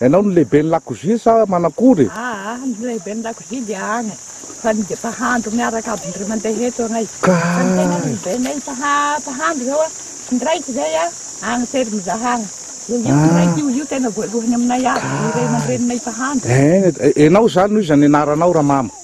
Ianao no lehiben'ny lakozia sa manak'ondry e? Aa ny lehiben'ny lakozia dia any fa ny mpahandro miaraka aby indray mandeha eto anay fa ny tena lehibenay ny mpahandro zao a tsy niraika zay a any Tserimizahagna dia io tsy raika io io tena voalohany aminay aby ny ray aman-dreninay mpahandro. Enao zany no iza ny anaranao ramama?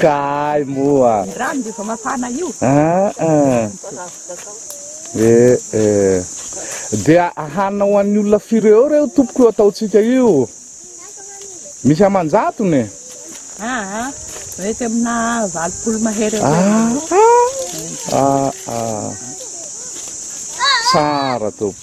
Ka ay moa. Ny rano dia efa mafana io. Aa eh eh. Dia hanina ho an'ny olona firy eo reo tompoko io ataontsika io? Misy aman-jatony e. Aa mety amina valopolo mahery eo eo. Aa tsara tompoko.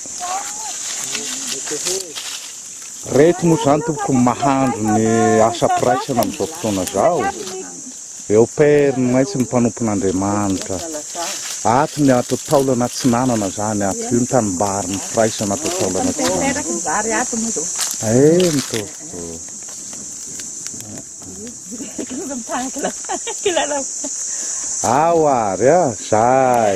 Reto moa zany tompoko ny mahandro ny asa mpiraisana amin'izao fotoana izao. Eo père no maintsy ny mpanompon'Andriamanitra. Ato ny ato taolana atsinanana zany ato. Io ny tanimbarin'ny firaisana ato taolana atsinanana. Eny tompoko. Ao ary a! Zay.